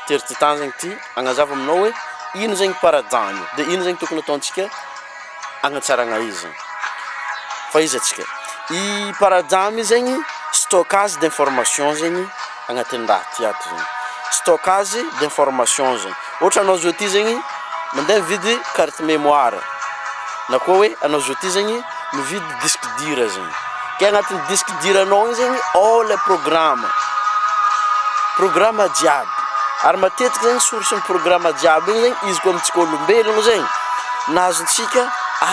Tery ty tany zegny ty agnazava aminao hoe ino zegny paradany de ino zegny tokony ataontsika agnatsaragna izy fa izy atsika i paradamy zegny stockage d'information zegny agnatin'ny raha ty ato zegny stockage d'information zegny ohatra anao zao ty zegny mandeha mividy carte memoire na koa hoe anao zao ty zegny mividy disque dur zegny ke agnatin'ny disque dur anao igny zegny ao le programme programme jiaby ary matetiky zegny source ny programme jiaby igny zegny izy koa amintsika olombelogno zegny nahazotsika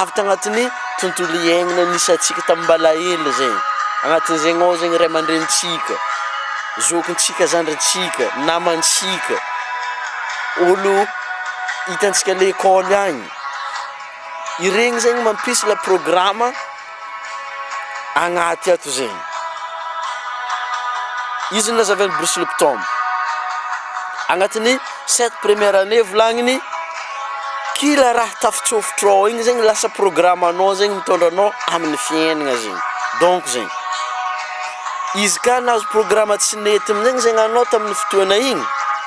avy tagnatin'ny tontolo iaignana nisy antsika tamy mbalahelo zegny agnatin'izegny ao zegny ray aman-drenintsika zokintsika zandrintsika namantsika olo hitantsika lekôly agny Iregny zegny mampisy la programa agnaty ato zegny. Izy no lazavin'i Bruce Lipton. Agnatin'ny sept première année volagniny, kila raha tafitsofotro ao igny zegny lasa programanao zegny mitondra anao amin'ny fiaignana zegny. Donc zegny, izy ka nahazo programa tsy nety amin'igny zegny anao tamin'ny fotoana igny,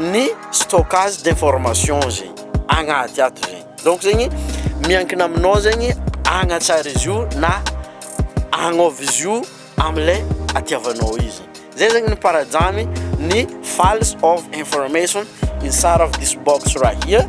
ny stockage d'information zegny agnaty ato zegny, donc zegny miankina aminao zegny hagnatsara izy io na agnôva izy io amle atiavanao izy, zay zegny no paradrany ny files of information inside of this box right here.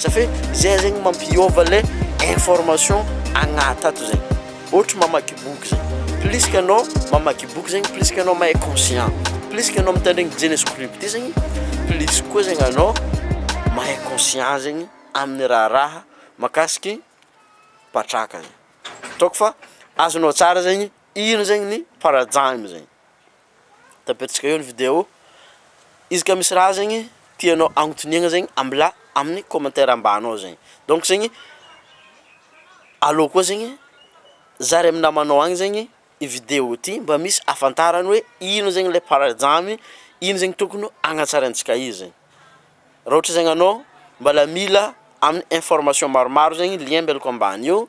Za fe zay zegny mampiova le information agnat ato zay ohatry mamaky boky zay plus ka anao mamaky boky zegny plus ka anao mahay conscient plus ka anao mitandregny dieny esprit be zegny plus koa zegny anao mahay conscient zegny amin'ny raharaha makasiky patraka zay ataoko fa azonao tsara zegny ino zegny ny paradigme zegny. de apetraka eo ny video, izy ka misy raha zegny tianao agnotiniagna zegny ambilà amin'ny commentaire ambany ao zegny, donc zegny aleo koa zegny zary amin'ny namanao agny zegny i video ty mba misy ahafantarany hoe ino zegny le paradramy, ino zegny tokony hagnatsarantsika izy, raha ohatra zegny anao mbôla mila amin'ny information maromaro zegny lien mbelako ambany eo